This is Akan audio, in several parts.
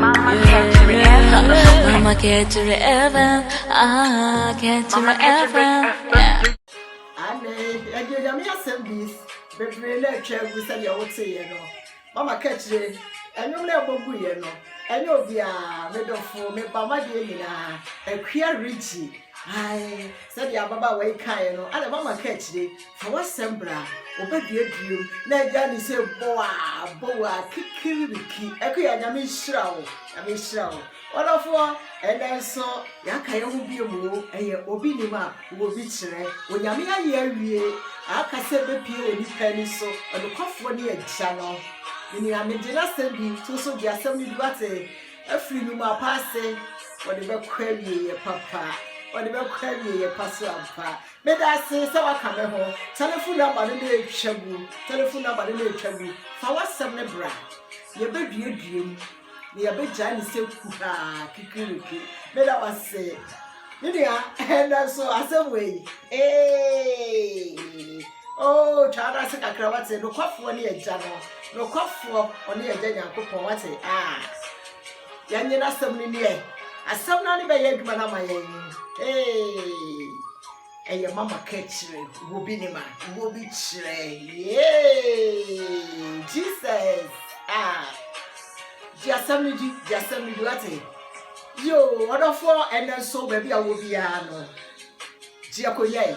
Mama kɛkyere Evan Mama kɛkyere Evan Ah kɛkyere Evan Yeah Ane ɛdi onyame asɛm bi bebree na atwa agu sɛdeɛ woteeɛ no mama kɛkyere ɛnwom na ɛbɔ guiɛ no ɛnyɛ obiara me dɔfo me ba madeɛ nyinaa akua regye ae sɛdeɛ ababaawa yi kaeɛ no ana mama kɛkyere Fa w'asɛm bra, wɔbɛduaduam na agya ne sɛ bowaa bowaa kikiribiki. Akuya, Nyame nhyira wo, Nyame nhyira wo. Ɔdɔfoɔ, ɛnɛ nso yɛaka yɛn ho bio mu o, ɛyɛ obi nim a wɔ bi kyerɛ. Onyame ayɛ awie, aka sɛ bɛpie wɔ nipa ani so, ɔnokwafoɔ ne agya no. Menua, megye n'asɛm bi to so gye asɛm no bi wate, afiri numa pa ase, wɔde bɛkɔ awieɛ papa, wɔde bɛkɔ awieɛ pa so ampa. Meda ase sɛ woaka me ho. Telefon nɔmba no na etwa gu. Telefon nɔmba no na etwa gu. Fa w'asɛm no bra. Yɛbɛduadua mu, na yɛbɛgyae no sɛ kuhaa, kikiriki. Meda wo ase. Me nua, ɛnɛ nso asɛm wɔ yi. Ee! Oh, twa no ase kakra wate. Nokwafoɔ ne agya no. Nokwafoɔ ɔne agya Nyankopɔn wate. Ah! Yɛnnye n'asɛm no nni ɛ. Asɛm no ara ne bɛyɛ adwuma no ama yɛn. Hey! Ɛyɛ mama ka kyerɛ wobi ne ma wobi kyerɛ. Yay! Jesus! Ah! Di asɛm no di, di asɛm no di wate. Yo, ɔdɔfoɔ ɛnɛ nso baabi a wɔ biara no, gye akɔnya yi.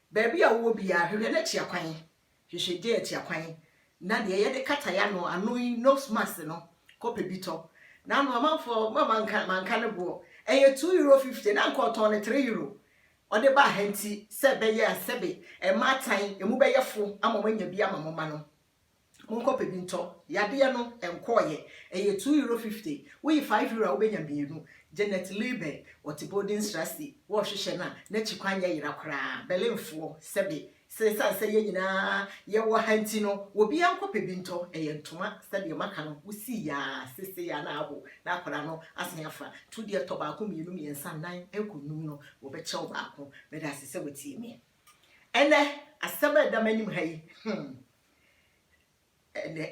Baabi a wowɔ biara, hwehwɛ no atua kwan. Hwehwɛ gel tua kwan na deɛ yɛde kata yɛn ano, ano yi, nose mask no, kɔpɛ bi tɔ. N'ano, amanfoɔ, ma manka, manka ne boɔ. Ɛyɛ two euro fifty, na anka ɔtɔn no three euro. Ɔde baa ha nti sɛ ɛbɛyɛ a sɛbe mmaa tan, emu bɛyɛ fo ama wɔanya bi ama mo mma no. Monkɔ pɛ bi ntɔ. Yadeɛ no, ɛnkɔɔeɛ. Ɛyɛ two euro fifty. Woyi five euro a, wobɛnya mmienu. Jeanette Leuber, ɔte Bodenstrasse, wɔrehwehwɛ no a, n'akyi kwan nyɛ yera koraa. Berlinfoɔ, sɛbe, sɛ ɛsiane sɛ yɛn nyinaa yɛwɔ ha nti no, obiara nkɔ pɛ bi ntɔ. Ɛyɛ ntoma, sɛdeɛ maka no, wosii yɛ ara, seesei ara na aho, na akwadaa no asen afa. Tu deɛ tɔ baako, mmienu, mmiɛnsa, nnan, ɛrekɔ nnum no, wɔbɛkyɛ wo baako. Meda ase sɛ woatie me. Ɛnnɛ, asɛm a ɛda m'anim ha yi, hmm,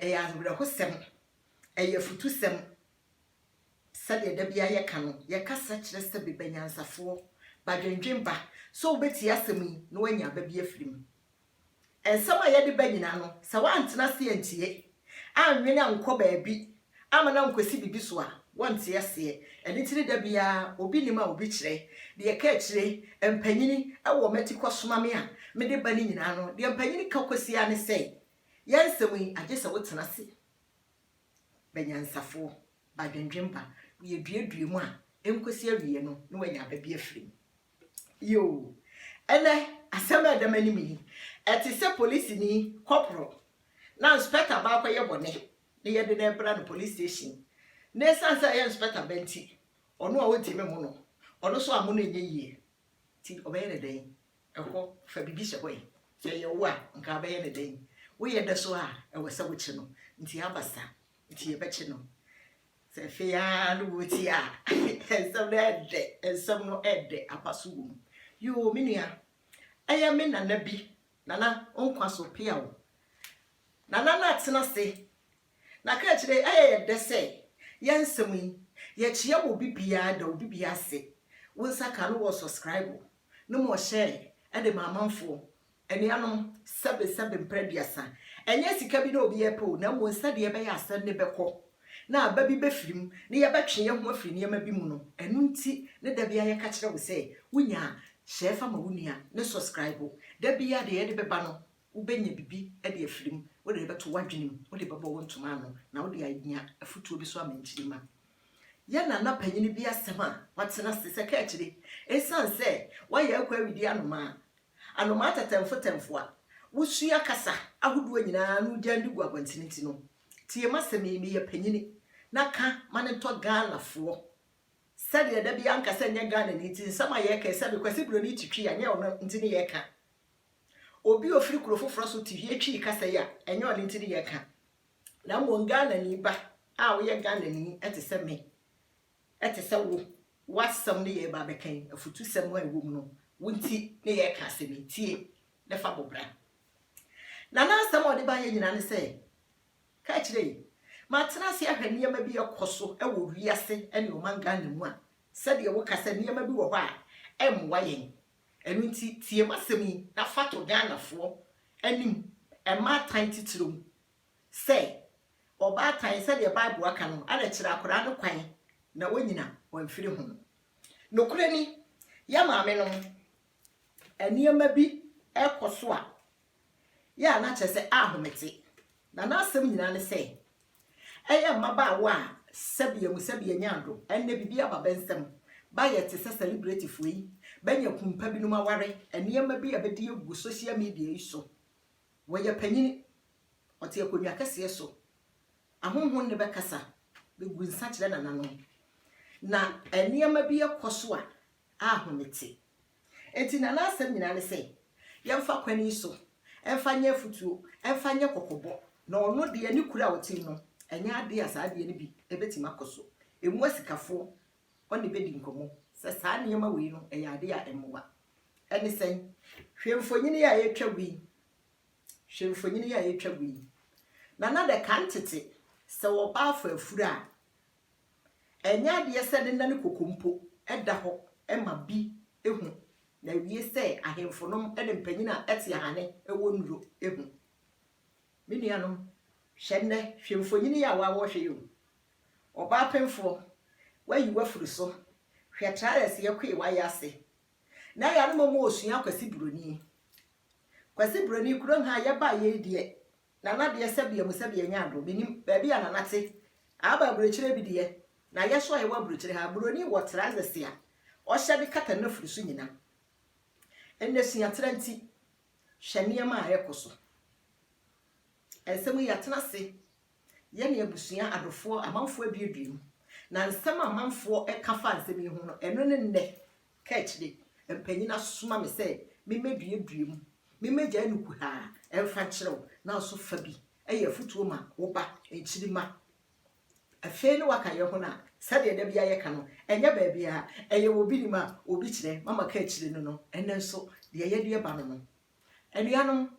ɛyɛ awerɛhosɛm, ɛyɛ afutusɛm. Sɛdeɛ da biara yɛka no, yɛkasa kyerɛ sɛ beba nyansafoɔ, badwendwen ba, sɛ wobɛtie asɛm yi na woanya aba bi afiri mu. Nsɛm a yɛde ba nyinaa no, sɛ woantena ase antie annwene annkɔ baabi amma no annkɔsi biribi so a, wɔnte aseɛ. Ɛno nti ne da biara obi nim a obi kyerɛ. Deɛ ɛka akyire, mpanyini wɔ m'ati kɔsoma me a mede ba no nyinaa no, deɛ mpanyini ka kɔsi ara ne sɛ, Yɛn nsɛm yi, agye sɛ wotena ase ba nyansafoɔ, ba adwendwemma, woyɛ duadua mu a, ɛnkɔsi awieɛ no na woanya aba bi afiri mu. Yoo! Ɛnɛ, asɛm a ɛda m'anim yi, ɛte sɛ polisini, kɔporo, na nspɛta ba akɔyɛ bɔne na yɛde no rebra no polis station, na esiane sɛ ɛyɛ nspɛta ba nti, ɔno a ontumi mmo no, ɔno nso ammo no nyɛ yie. Nti ɔbɛyɛ no dɛn? Ɛhɔ, fa biribi hyɛ hɔ ɛ. Sɛ ɛyɛ wo a, anka wobɛyɛ no dɛn? Woyɛ da so a, ɛwɔ sɛ wokye no. Nti aba sa, nti yɛbɛkye no. Sɛ afei ara na wotie a, nsɛm no ɛdɛ, nsɛm no ɛdɛ, apa so wom. Yoo, me nua, ɛyɛ me nana bi, Nana, wo nkwa so pea wo. Nana no atena ase, na ka kyerɛ, ɛyɛ yɛ dɛ sɛ, yɛn nsɛm yi, yɛkyea wɔ obi biara da, obi biara ase. Wo nsa ka no wɔ subscribe, na mmom ɔhyɛɛ de ma amanfoɔ, Anuanom, sɛbe sɛbe mpra aduasa, ɛnyɛ sika bi na obi repɛ o, na mmom sɛdeɛ ɛbɛyɛ a asɛm no bɛkɔ, na aba bi bɛfiri mu, na yɛbɛtwe yɛn ho afiri nneɛma bi mu no, ɛno nti ne da biara yɛka kyerɛ wo sɛ, wonya a, hyɛ fa ma wo nua, ne sɔskraibo, da biara deɛ yɛde bɛba no, wobɛnya biribi de afiri mu, wode bɛto w'adwene mu, wode bɛbɔ wo ntoma ano, na wode anya afotuo bi so ama nkyirimma. Yɛ nana panin bi asɛm a watena ase sɛ kaakyire, ɛsiane sɛ wayɛ akɔ awidi anomaa, Anomaa tɛtɛmfotɛmfo a wosua kasa ahodoɔ nyina ara na wogyan de gu abɔntene nti no, tie m'asɛm yi, meyɛ panyini, na ka ma no ntɔ Ghanafoɔ sɛdeɛ da biara nka sɛ nyɛ Ghanani nti nsɛm a yɛreka yi sɛbe Kwasi Broni te twii a nyɛ ɔno nti ne yɛreka. Obi a ɔfiri kuro foforɔ so te hwie twii kasa yi a ɛnyɛ ɔno nti ne yɛreka, na mmom Ghanani ba a woyɛ Ghanani te sɛ me Ɛte sɛ wo, w'asɛm ne yɛreba abɛka yi, afutusɛm a ɛwom no, wo nti ne yɛreka asɛm yi. Tie, na fa bɔ bra. Na n'asɛm a ɔde baeɛ nyinaa ne sɛ, Ka akyire yi, matena ase ahwɛ nneɛma bi rekɔ so wɔ wiase ne ɔman Ghana mu a, sɛdeɛ woka sɛ nneɛma bi wɔ hɔ a ɛmmoa yɛn. Ɛno nti, tie m'asɛm yi na fa to Ghanafoɔ anim mma atan titire mu. sɛ, Ɔbaatan, sɛdeɛ Bible aka no, ara kyerɛ akwadaa no kwan na ɔnnyina wamfiri ho. Nokorɛ ni, yɛn maamenom, nneɛma bi rekɔ so a, yɛ a na kyerɛ sɛ ahomete. Na n'asɛm nyinaa ne sɛ, ɛyɛ mmabaawa a sɛbea mu sɛbea nya adwo, ɛnnɛ biribi aba bɛ nsam, bɛayɛ te sɛ sɛlebretefoɔ yi, bɛanya kunu pa binom aware, nneɛma bi a bɛde agu social media yi so, wɔyɛ panyini, Ɔte akonnwa kɛseɛ so. Ahonhom nne bɛkasa, bɛgu nsa kyerɛ nananom, na nneɛma bi rekɔ so a ahome te. Enti na n'asɛm nyinaa ne sɛ, Yɛmfa kwan yi so, ɛmfa nyɛ afutuo, ɛmfa nyɛ kɔkɔbɔ. Na ɔno deɛ ne kuro a ɔte mu no, ɛnyɛ adeɛ a saa adeɛ no bi bɛtumi akɔ so. Emu asikafoɔ, ɔne bɛdi nkɔmmɔ sɛ saa nneɛma wei no, ɛyɛ adeɛ a ɛmmoa. Ɛne sɛn? Hwɛ mfonini a ɛretwam yi. Hwɛ mfonyin yi a yetwa gu yi. Na na dɛ kan tsetse, sɛ wɔba afa efur a, nnyɛ adeɛ sɛ ne nan koko mpo da hɔ ma bi hu, na ewie sɛ ahemfonom ne mpanyin a ɛte ahane wɔ nnuro hu. Me nuanom, hwɛ nnɛ, hwɛ mfonyin yi a wɔawɔhwɛ yi o. Ɔbaapemfoɔ, wɔayi wo afiri so, hwɛ traɛs yɛkoe w'ayɛ ase. Na ɛyɛ a na mmom ɔresua akwasi buroni. Kwasi Broni, kurom ha a yɛbaeɛ yi deɛ, Nana deɛ sɛbea mu sɛbea nyɛ adom, mennim baabi a Nana te. Aba aburokyire bi deɛ, na yɛ nso a yɛwɔ aburokyire ha, Broni wɔ trousers a ɔhyɛ de kata n'afuru so nyina. Ɛnnɛ suatra nti, hwɛ nneɛma a ɛrekɔ so. Nsɛm yi yɛatena ase, yɛne abusua, adɔfoɔ, amanfoɔ aduadua mu, na nsɛm a amanfoɔ ka faa nsɛm yi ho no, ɛno ne nnɛ Kurt de, mpanyin asoma me sɛ mimmeduadua mu. Mimmegyae no kuhaa mfa nkyerɛ wo, nanso fa bi yɛ afotuo ma wo ba nkyirimma. Afei ne waka yɛn ho no a, sɛdeɛ da biara yɛka no, ɛnyɛ baabiara, ɛyɛ wɔ obi nim a obi kyerɛ, mama ka akyire no no, ɛnnɛ nso, deɛ yɛde reba no no, Anuanom,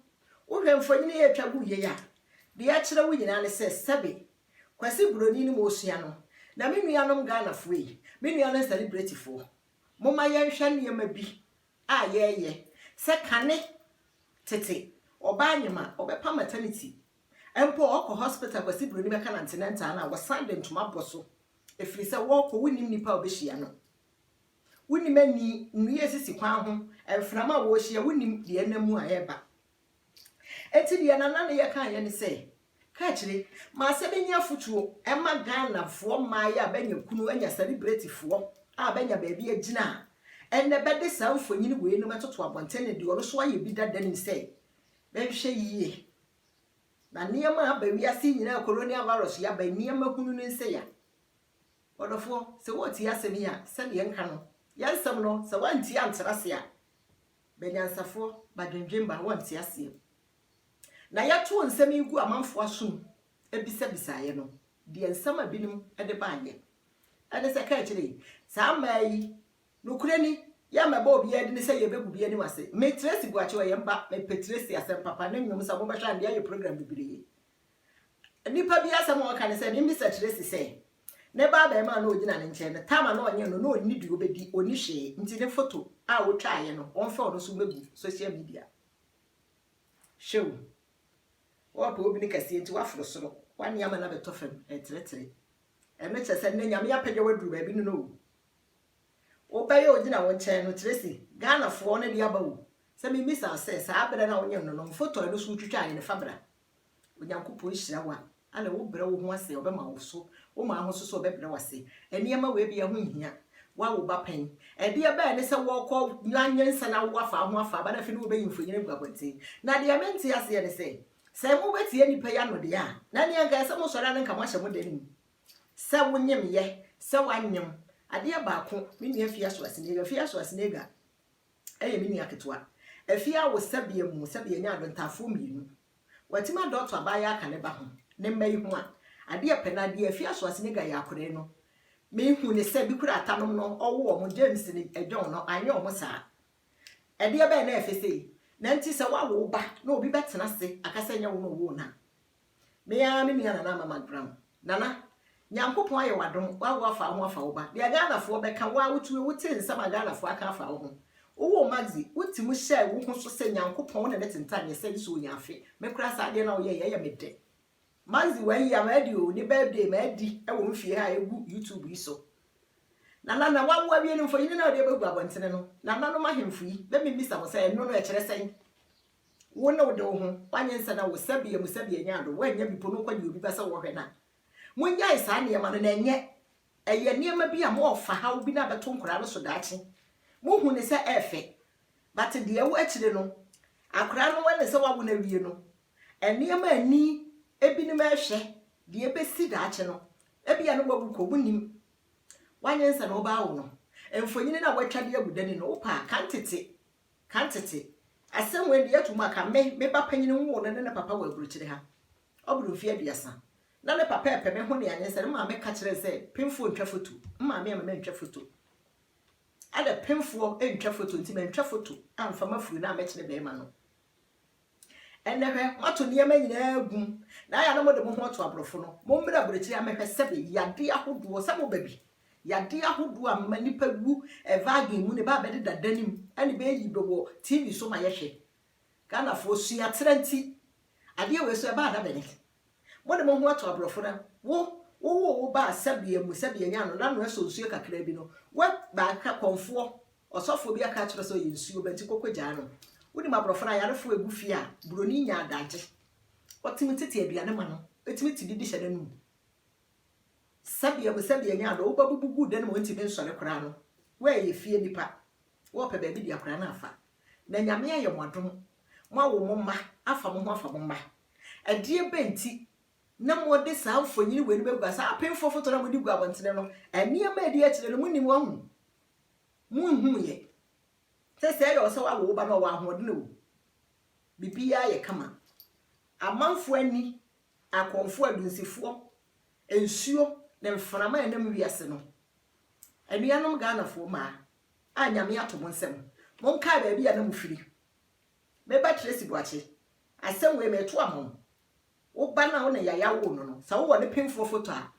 wohwɛ mfonini yi a etwa gu yei a, deɛ ɛkyerɛ wo nyinaa ne sɛ sɛbe Kwasi Buroni ne mosua no, na me nuanom Ghanafoɔ yi, me nuanom sɛlebretefoɔ, momma yɛnhwɛ nneɛma bi a yɛreyɛ sɛ kane tete ɔbaa nyem a ɔbɛpa maternity mpo a ɔkɔ hospital Kwasi Buroni bɛka no antenatal no a wɔsan de ntoma bɔ so ɛfiri sɛ wɔrekɔ wonnim nipa a ɔbɛhyia no Wonim ani, nnua a esisi kwan ho, mframa a wɔrehyia, wonim deɛ ɛnam mu a ɛreba. Enti deɛ Nana Neyɛ kaeɛ ne sɛ, Ka akyire ma sɛ bɛnya afotuo ma Ghanafoɔ mmaeɛ a bɛanya kunu anya sɛlibretifoɔ a bɛanya baabi agyina a ɛnnɛ bɛde saa mfonini weinom toto abɔnten ne deɛ ɔno nso ayɛ bi dada nim sɛ bɛnhwɛ yie na nneɛma a aba wiase yi nyinaa, Coronial Virus yi aba, nneɛma hunu no nsɛe a. Ɔdɔfoɔ, sɛ woretie asɛm yi a, sɛdeɛ yɛnka no, yɛn nsɛm no, sɛ woantie antra ase a, ba nyansafoɔ, ba dwendwemma, wɔnte aseɛ. Na yɛtoo nsɛm yi gu amanfoɔ asom bisabisaeɛ no, deɛ nsɛm a binom de baeɛ ne sɛ, Ka kyerɛ yi, saa mmaa yi, nokorɛ ni, yɛmmɛbɔ obiara din sɛ yɛbɛgu bi anim ase. Me Tracy Boakye, ɔyɛ mma, mepɛ Tracy asɛm papa, ne nnwom, sɛ mobɛhwɛ a, nnɛ ayɛ program bebree. Nnipa bi asɛm a wɔka ne sɛ, ne bisa kyerɛ si sɛ, ne ba abarimaa no a ɔgyina ne nkyɛn no, tam a na ɔnyɛ no, na ɔnni deɛ ɔbɛdi, ɔnni hwee, nti ne foto a wɔtwaeɛ no, wɔmfa ɔno nso mmɛgu social media. Hwɛ o, wɔrepɛ obi no kɛseɛ nti woaforo soro, woane ama no abɛtɔ fam, ɛreteretere. Ɛno kyerɛ sɛ nnɛ Nyame apagya wo aduru baabi no no o. Wobɛyɛ a ɔgyina wo nkyɛn no, Tracy, Ghanafoɔ no de aba o, sɛ memmisa wo sɛ, saa berɛ no a wonyem no no, mfoto a ɛno nso wotwitwaeɛ no fa bra. Onyankopɔn nhyira wo a, ana wobrɛ wo ho ase a ɔbɛma wo so? Woma ahoso sɛ ɔbɛbrɛ wo ase? Nneɛma wei biara ho nhia. Woawo ba pɛn? Ɛdeɛ bɛyɛ ne sɛ wɔrekɔ anwea nsa na wo afaa ho afaa ba na afei ne wobɛyi mfonini agu abɔnten? Na deɛ mente aseɛ ne sɛ, sɛ mobɛtie nnipa yi ano deɛ a, na neɛ nka ɛyɛ sɛ mosɔre a na nka moahyɛ mo dan mu. Sɛ wonyem yɛ, sɛ woanyem, adeɛ baako, me nua Afia Schwarzenegger, Fia Schwarzenegger, yɛ me nua ketewa. Afie awo sɛbea mu sɛbea anya adontafoɔ mmienu. Watumi adɔɔto abaayaa ka ne ba ho, ne mma yi ho a. Adeɛ pɛ na deɛ afie asoasenegua yɛ akorɛ no, me hu ne sɛ bikura atanom no ɔwo wɔn, James ne John no anyɛ wɔn saa. Ɛdeɛ bɛn na ɛfɛ sei? Nanti sɛ woawo wo ba na obi bɛtena ase aka sɛ nyɛ wo na ɔwoo no a. Me ara me nua Nana Amama Gram. Nana, Nyankopɔn ayɛ wo adom, woawo afa wo ho afa wo ba. Deɛ Ghanafoɔ bɛka, wo ara wotumi, wote nsɛm a Ghanafoɔ aka afa wo ho. Wowoo Maxi, woti mu hyɛɛ wo ho so sɛ Nyankopɔn wo ne no tentam yɛ sɛ nso ɔnya afe. Me koraa saa adeɛ no a woyɛɛ yi, ɛyɛ me dɛ. Maxi wayi a madi o, ne birthday madi wɔ me fie ha a ɛgu YouTube yi so. Nana, na woawo awie no mfoyini no a wode abɛgu abɔntene no, nananom ahemfo yi, let me bisa mo sɛ ɛno no ɛkyerɛ sɛn? Wo ne wo de wo ho, w'anyɛ nsa na wo sɛbea mu sɛbea nya ado, w'anya bi po no kɔ deɛ obi pɛ sɛ wɔhwɛ no a. Monnyae saa nneɛma no na ɛnyɛ, ɛyɛ nneɛma bi a mo ɔfa haw bi na abɛto nkwadaa no so daakye. Mo hu no sɛ ɛɛfɛ, but deɛ ɛwɔ akyire no, akwadaa no wɛne sɛ w'awo no awie no, nneɛma a ani ebinom ɛɛhwɛ, deɛ ɛbɛsi daakye no, ebia no w'awu kɔ, mo nnim. W'anyɛ nsa na ɔbaa wo no, mfonini no a w'atwa de agu dani no, wo pɛ a, kan tete. Kan tsetse asɛm wei de yɛto mu a, kan me me ba panyin nwoo no ne ne papa wɔ aburokyire ha. Ɔbor mfe aduasa. Na ne papa repɛ me ho ne anyɛ sɛ ne maame ka kyerɛɛ sɛ penfoɔ ntwa foto. Me maame amma mantwa foto. Adɛ penfoɔ ntwa foto nti mantwa foto amfa m'afuru no ammɛkyere barima no. Ɛnnɛ hwɛ, moato nneɛma nyinaa agu, na ayɛ a na mode mo ho ato aborɔfo no. Mommrɛ aburokyiri ha mmɛhwɛ sɛbe yadeɛ ahodoɔ, sɛ moba bi, yadeɛ ahodoɔ a mma nnipa wu ɛvagen mu no ɛbɛ a bɛdeda da no mu ɛne bɛyi bɛ wɔ TV so ma yɛhwɛ. Ghanafoɔ suaterɛ nti, adeɛ wei so ɛba a na bɛne Mode mo ho ato aborɔfo na wo wowoo wo ba a sɛbea mu sɛbea nyaa no na noɛ sɔ nsuo kakra bi no wɛ baaka kɔmfoɔ ɔsɔfoɔ bi aka akyerɛ sɛ ɔyɛ nsuo ba nti kɔkɔ gyaa no wonim aborɔfo no ayarefoɔ ɛgu fie a buroni nya adagye ɔtumi tete aduane ma no ɛtumi te bi de hyɛ n'anum sɛbea mu sɛbea nyaa no woba bubu gu dan mu ɔntumi nsɔre koraa no woɛyɛ fie nipa wɔpɛ baabi de akora no afa na nyame ayɛ mo adom moawo mo mma afa mo ho afa mo mma Ɛdeɛ bɛn nti na mode saa mfonini wei no bɛgua, saa apemfoɔ foto no a mode gu abɔntene no, nneɛma a ɛdi akyire no, monim wɔn ho? Monhunuiɛ sɛ sɛɛ yɛ wo sɛ woawo wo ba no, ɔwɔ ahoɔden o, biribiara yɛ kama. Amanfoɔ ani, akɔmfoɔ, adunsifoɔ, nsuo, ne mframa a ɛnam wiase no. Anuanom Ghanafoɔ mmaa a Nyame ato mo nsam, monkae baabi a na mofiri. Me ba Tracy Boakye, asɛm wei mereto ama wo. Wo ba no a wo ne Yaya woo no no, sɛ wowɔ ne penfoɔ foto a,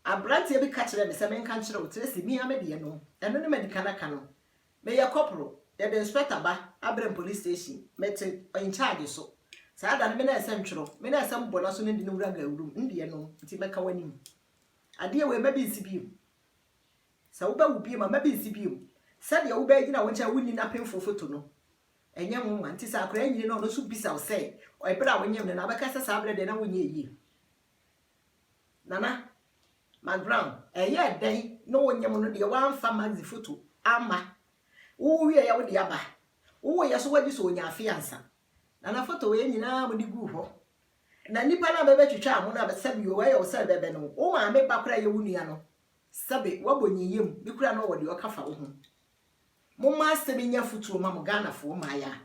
aberanteɛ bi ka kyerɛɛ me sɛ menka nkyerɛ wo, Tracy, me ara me deɛ no, ɛno ne madi kan aka no. Meyɛ kɔporo, yɛde inspector ba Abrem Police Station, mete in charge so. Saa da no, me na ɛsɛ ntwerɛ, me na ɛsɛ mbɔ n'aso na di no wura Gawurum, ndeɛ no, nti mɛka w'anim. Adeɛ wei mma bi nsi bio. Sɛ wobɛwo bio ma mma bi nsi bio. Sɛdeɛ wobɛgyina wo nkyɛn a wonni n'apemfo foto no, ɛnyɛ nwonwa. Nti sɛ akwadaa nyini na ɔno nso bisa wo sɛ, Ɛberɛ a wonyem no no, abɛka sɛ saa berɛ deɛ na wonyɛɛ yie? Nana McGround, Ɛyɛɛ dɛn na wonyem no deɛ woamfa Maxie foto amma? Wowo wieeɛ wode aba? Wowoeɛ nso wagye sɛ ɔnyaa afe ansa? Nana, Foto wei nyinaa mode guu hɔ. Na nnipa no a bɛbɛtwitwaa mo no a, sɛbi o, ɛyɛ wo sɛ bɛbɛ no, wo maame ba koraa a ɛyɛ wo nua no, Sɛbe wabɔ nyiyam bi koraa na ɔwɔ deɛ ɔka fa wo ho. Momma asɛm yi nyɛ afotuo mma mo Ghanafoɔ mmayaa.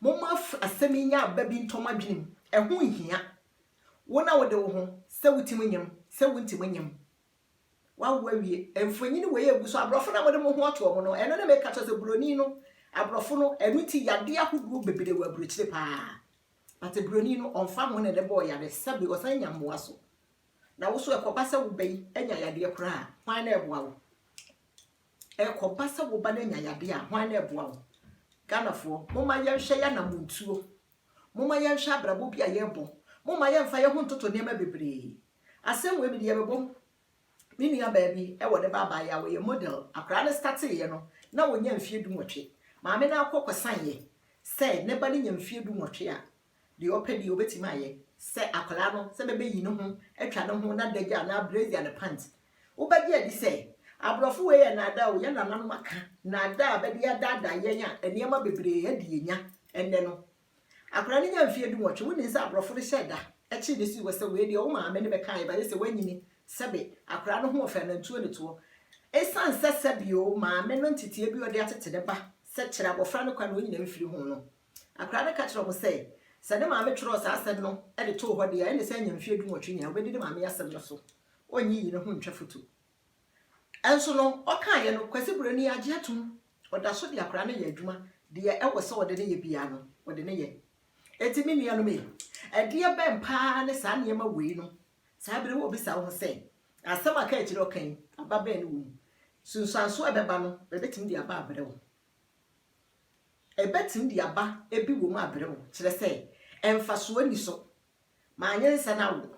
Momma asɛm yi nyɛ aba bi ntɔ mo adwene mu. Ɛho nhia. Wo na wode wo ho, sɛ wotim nyem, sɛ wontim nyem. Wawo awie. Mfonyini wei a ɛgu so, aborɔfo na mode mo ho ato wɔn no, ɛno ne meka kyerɛ sɛ buroni no, aborɔfo no, ɛno nti yadeɛ ahodoɔ bebree wɔ aburokyire paa. But buroni no, ɔmfa ho na ne bɔɔ yare, sɛbe ɔsan nya mmoa so. Na wo nso ɛkɔba sɛ wo ba yi anya yadeɛ koraa a, hwan na ɛboa wo? Ɛkɔba sɛ wo ba no anya yadeɛ a, hwan na ɛboa wo? Ghanafoɔ, momma yɛnhwɛ yɛn anammɔntuo. Momma yɛnhwɛ abrabɔ bi a yɛrebɔ. Momma yɛmfa yɛn ho ntoto nneɛma bebree. Asɛm wei, mede yɛbɛbom. Me nuabaa bi wɔ ne ba abaayewa a ɔyɛ model. Akwadaa no stateeɛ no, na ɔnnya mfeɛ dunwɔtwe. Maame no akɔ kɔsaneeɛ sɛ ne ba no nya mfeɛ dunwɔtwe a, Deɛ ɔpɛ deɛ ɔbɛtumi ayɛ sɛ akwadaa no sɛ bɛbɛyi ne ho atwa ne ho n'adagya anaa brazier ne pant. Wobɛgye adi sɛ aborɔfo wei yɛ nnaadaa o, yɛn nananom aka nnaadaa a bɛde adaadaa yɛn a nneɛma bebree adi yɛn nya ɛnnɛ no. Akwadaa no nya mfeɛ dunwɔtwe, wonim sɛ aborɔfo no hyɛɛ da kyee ne sii hɔ sɛ wei deɛ wo maame ne me kaeɛ bayɛ sɛ wanyini sɛbe akwadaa no ho ɔfɛ anantuo ne toɔ. Ɛsiane sɛ sɛbe o maame no nteteɛ bi a ɔde atete ne ba sɛ kyerɛ abɔfra no kwan na ɔnyina mfiri ho no, Akwadaa no ka kyerɛɛ wɔn sɛ, Sɛ ne maame twerɛɛ saa asɛm no de too hɔ deɛ a, ɛnne sɛ anya mfeɛ dunwɔtwe nyinaa, ɔbɛdi ne maame asɛm no so. Ɔnnye yei no ho ntwa foto. Nso no, ɔkaeɛ no, Kwasi berɛ no yi agye atom. Ɔda so de akwadaa no yɛ adwuma, deɛ ɛwɔ sɛ ɔde no yɛ biara no, ɔde no yɛ. Enti me nuanom ei, ɛdeɛ bɛn pa ara ne saa nneɛma wei no? Saa berɛ yi wobisa wo ho sɛ, Asɛm a kaakyire ɔka yi, aba bɛn na ɛwɔ mu? Nsunsuansoɔ a ɛbɛba no, ɛbɛtumi de aba abrɛ wo. Ɛbɛtumi de aba ebi wom abrɛ wo, kyerɛ sɛ, mfasoɔ nni so. Manyɛ nsa no awo,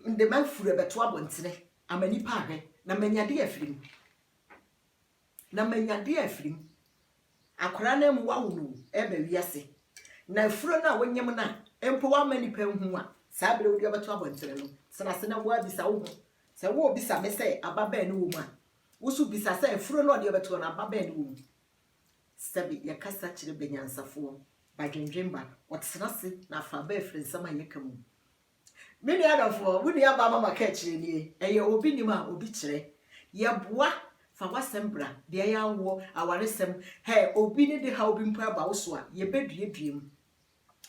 mede m'afuru rebɛto abɔntene ama nnipa ahwɛ, na manya adeɛ afiri mu. Na manya adeɛ afiri mu. Akwadaa no amu wawo no ɛreba wiase, na afuro no a wonyem no a mpo wama nnipa ahu a saa berɛ wode ɔbɛto abɔntene no, tena ase na woabisa wo ho sɛ worebisa me sɛ aba bɛn ne wɔ mu a, wo nso bisa sɛ afuro no a ɔde ɔbɛtoɔ no aba bɛn ne wɔ mu. Sɛbe yɛkasa kyerɛ bɛnyansafoɔ, badwendwen ba, wɔtena ase na afa ba afiri nsɛm a yɛka mu. Me nua dɔfoɔ, wo nua baa Mama kaa kyerɛ nie, ɛyɛ obi nim a obi kyerɛ. Yɛboa, fa w'asɛm bra, deɛ ɛyɛ awoɔ, awaresɛm, hɛ, obi ne de haw bi mpo ɛba wo so a, yɛbɛduadua mu.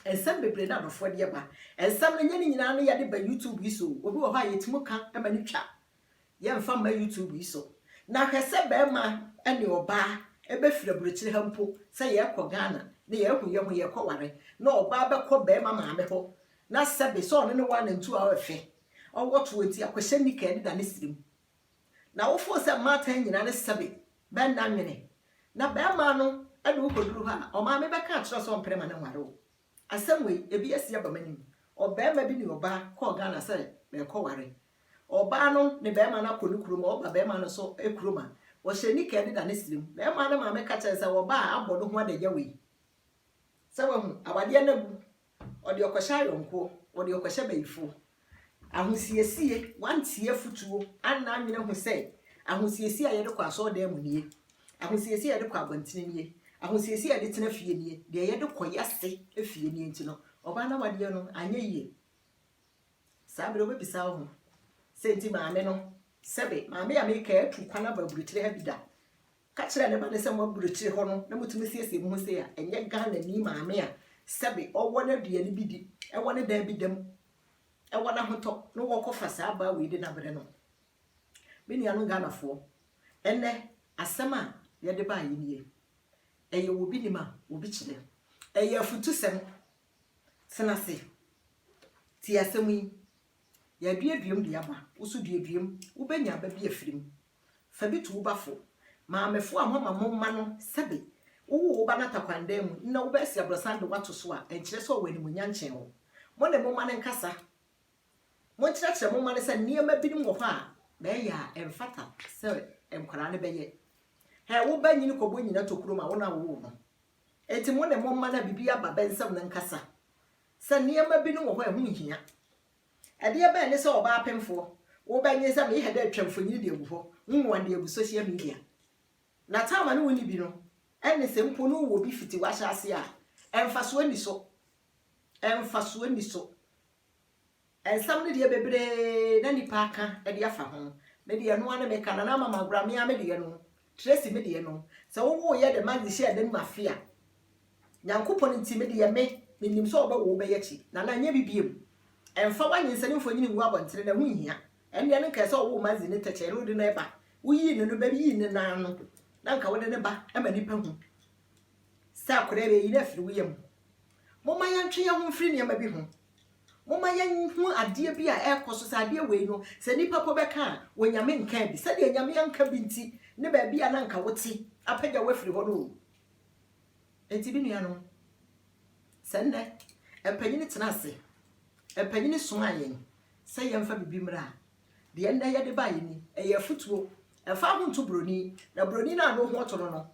Nsɛm bebree na adɔfoɔ de ba. Nsɛm no nyɛ ne nyinaa na yɛde ba YouTube yi so, obi wɔ hɔ a yɛtumi ka ma no twa Yɛmfa mma YouTube yi so. Na hwɛ sɛ barima ne ɔbaa bɛfiri aburokyire ha mpo sɛ yɛrekɔ Ghana na yɛahu yɛ ho yɛrekɔware na ɔbaa bɛkɔ barima maame hɔ na sɛbe sɛ ɔne no wɔ anantu a ɔrefɛ, ɔwɔ toɔ nti akɔhyɛ nika ɛdeda ne serem. Na wo fo sɛ mmaatan nyinaa ne sɛbe bɛ nna nwene na barima no de wo kɔduru hɔ a ɔmaame bɛka akyerɛ wo sɛ ɔmpere ma no nware wo. Asɛm wei, ebi asi aba m'anim. Ɔbarima bi ne ɔbaa kɔɔ Ghana sɛ bɛrekɔware Ɔbaa no ne barima no akɔ ne kurom a, ɔba barima no so kurom a, ɔhyɛ nika de da ne srɛ mu. Barima no maame ka kyerɛ no sɛ, Ɔbaa a abɔ ne ho adagya wei. Sɛ wahu, awadeɛ no abu. Ɔde ɔkɔhyɛ ayɔnkoɔ, ɔde ɔkɔhyɛ bayifoɔ. Ahosiesie, wantie afotuo, anna anwene ahu sɛ ahosiesie a yɛde kɔ asɔɔdan mu nie, ahosiesie a yɛde kɔ abɔntene nie, ahosiesie a yɛde tena fie nie, deɛ yɛde kɔ yɛase fie nie nti no, ɔbaa no awadeɛ no anyɛ yie. Saa bere no wobebisa wo ho sɛ, 'Enti maame no, sɛbe maame a mereka yi atu kwan aba aburokyiri ha bi da? Ka kyerɛ ne ba no sɛ mo aburokyiri hɔ no na mutumi siesie mo ho sei a, ɛnyɛ Ghanani maame a sɛbe ɔwɔ n'aduane bi di, ɛwɔ ne dan bi da mu, ɛwɔ n'ahotɔ na wɔkɔfa saa abaa wei de no abrɛ no. Me nuanom Ghanafoɔ, ɛnnɛ asɛm a yɛde baeɛ nie. Ɛyɛ obi nim a obi kyerɛ. Ɛyɛ afutusɛm Tena ase. Tie asɛm yi, Yɛaduaduam de aba, wo nso duaduam, wobɛnya aba bi afiri mu. Fa bi to wo ba fo. Maamefoɔ a moama mo mma no sɛbe wowoo wo ba no atakwandan mu na wobɛasi aborɔsan de wo ato so a, ɛnkyerɛ sɛ ɔwɔ animuonyam kyɛn wo. Mo ne mo mma no nkasa. Monkyerɛkyerɛ mo mma no sɛ nneɛma binom wɔ hɔ a, na ɛyɛ a ɛmfata sɛ nkwadaa no bɛyɛ. Hɛ wo ba nyini kɔbɔ nyina tokuro ma wo na wowoo no. Enti mo ne mo mma no a biribi aba bɛ nsam no nkasa sɛ nneɛma binom wɔ hɔ a ɛho nhia. Ɛdeɛ bɛn ne sɛ ɔbaa pemfoɔ, wo bɛ nye sɛ me yehɛ dɛ atwa mfonyin de agu hɔ, nwoa de agu sohyia media. Na taama ne wo nni bi no, ɛne sɛ mpo ne wo wɔ bi fiti w'ahyɛ aseɛ a, ɛmfasoɔ nni so. Ɛmfasoɔ nni so. Nsɛm no deɛ bebree na nnipa aka de afa ho. Me deɛ ɛno ara na meka, Nana Ama Mankwra me ara me deɛ no, Tracy me deɛ no, sɛ wowoeɛ de Maggie hyɛɛ dan mu afe a, Nyankopɔn nti me deɛ me, menim sɛ wɔbɛwo wo bɛyɛ akyi. Nana nyɛ bi biom. Ɛmfa w'anyinsɛne mfonini ngu abɔntene na ɛho nhia. Ɛndeɛ no nka ɛsɛ wowoo Maggie ne tɛkyɛɛ na wode no ɛba. Woyii no no bɛyii no no ara no na nka wode no ba ma nnipa hu sɛ akwadaa yi bɛyi no afiri wo yam. Momma yɛntwe yɛn ho mfiri nneɛma bi ho. Momma yɛnhu adeɛ bi a ɛrekɔ so sɛ adeɛ wei no, sɛ nnipa mpo bɛka a, Onyame nkaa bi. Sɛdeɛ Nyame anka bi nti ne baabi a na anka wote apagya wo afiri hɔ no o. Enti me nuanom, sɛ nnɛ mpanyini tena ase, mpanyini somaa yɛn sɛ yɛmfa biribi mmra a, deɛ nnɛ yɛde baeɛ ni, ɛyɛ afutuo. Mfa wo ho nto buroni, na buroni no a ne ho ɔtɔ no no,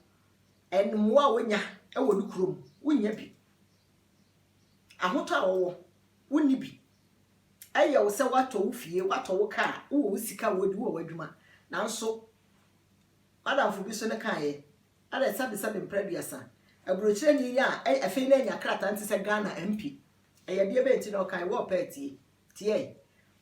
And mmoa a wonya wɔ ne kurom, wonnya bi. Ahotɔ a wɔwɔ, wonni bi. Ɛyɛ wo sɛ woatɔ wo fie, woatɔ wo kaa, wowɔ wo sika a wodi, wowɔ w'adwuma. Nanso, m'adamfo bi nso ne kaeɛ, ɛdɛ sɛbesɛbe mpra aduasa. Aburokyerɛni yi a afei na anya krataa no te sɛ Ghana MP. Ɛyɛdeɛ bɛn nti na ɔkae? Wɔrepɛ atie. Tiae.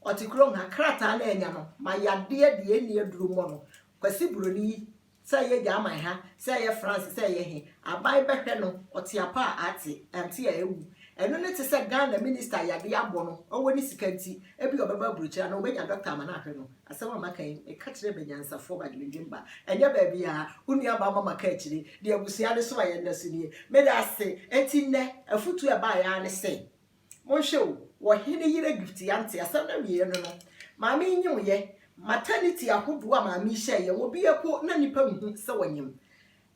Ɔte kurom ha. Krataa no a anya no ma yadeɛ deɛ ɛnni aduro mmɔ no. Kwasi buroni yi, sɛ ɛyɛ Gyaman ha, sɛ ɛyɛ France, sɛ ɛyɛ he, aban bɛhwɛ no, ɔte apa a ate, ante a awu. Ɛno ne te sɛ Ghana Minista a yadeɛ abɔ no, ɔwɔ ne sika nti, ebia ɔbɛba aburokyire anaa ɔbɛnya dɔkta ama no ahwɛ no. Asɛm a maka yi, meka kyerɛ Banyansafoɔ Badwemdwemba, ɛnyɛ baabiara. Wo nuabaa Mama ka akyire, deɛ abusua no so a yɛnda so nie. Meda ase. Enti nnɛ, afotuo a ɛbaeɛ ara ne sɛ. Monhwɛ o, wɔ hene yere gift ya nte asɛm no awieɛ no no, maame yi nyem yɛ, maternity ahodoɔ a maame yi hyɛɛ yɛ, obi ɛpo na nipa nhu sɛ wɔnyem,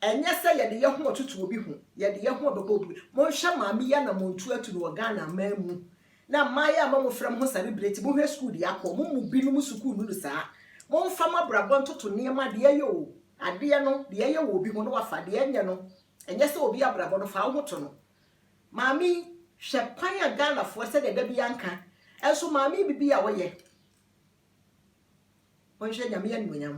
ɛnyɛ sɛ yɛde yɛ ho ɔtoto obi ho, yɛde yɛ ho ɔbɛbɔ obi, monhwɛ maame yi anamontuo atu no wɔ Ghana man mu, na mmayewa a mamofrɛ mo ho celebrate, monhwɛ sukuu deɛ akɔ, mo mu binom sukuu nnuru saa, monfa mo abrabɔ ntoto nneɛma deɛ ɛyɛ o, adeɛ no, deɛ ɛyɛ wɔ obi ho na wafa, deɛ ɛnyɛ no, ɛnyɛ sɛ obi abrabɔ no, fa wo ho to no, Maame yi hwɛ kwan a Ghana foɔ sɛdeɛ da biaa nka nso maame yi bibi a woyɛ monhwɛ nyame animuonyam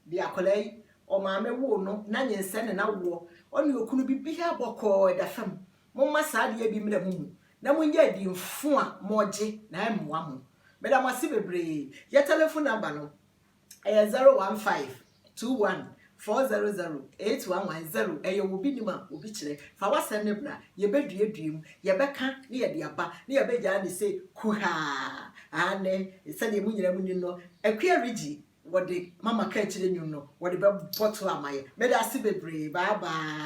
deɛ akwadaa yi ɔmaame woo no nanyinsɛn ne nawoɔ ɔne okunu bibiaa bɔkɔɔ ɛda fam momma saa adeɛ bi mmra momu na monyɛ adi mfo a mogye na ɛmmoa mo meda mo ase bebree yɛ telephone number no Ɛyɛ zero one five two one four zero zero eight one one zero. Ɛyɛ wɔ obi nim a obi kyerɛ. Fa w'asɛm no bra, yɛbɛduadua mu, yɛbɛka na yɛde aba, na yɛbɛgyaa no sɛ kuhaa. Aane, sɛdeɛ mo nyinaa monim no, Akua Reggie, wɔde Mama Kaakyire nnwom no, wɔde bɛbɔ tour ama yɛn. Meda ase bebree. Bye bye.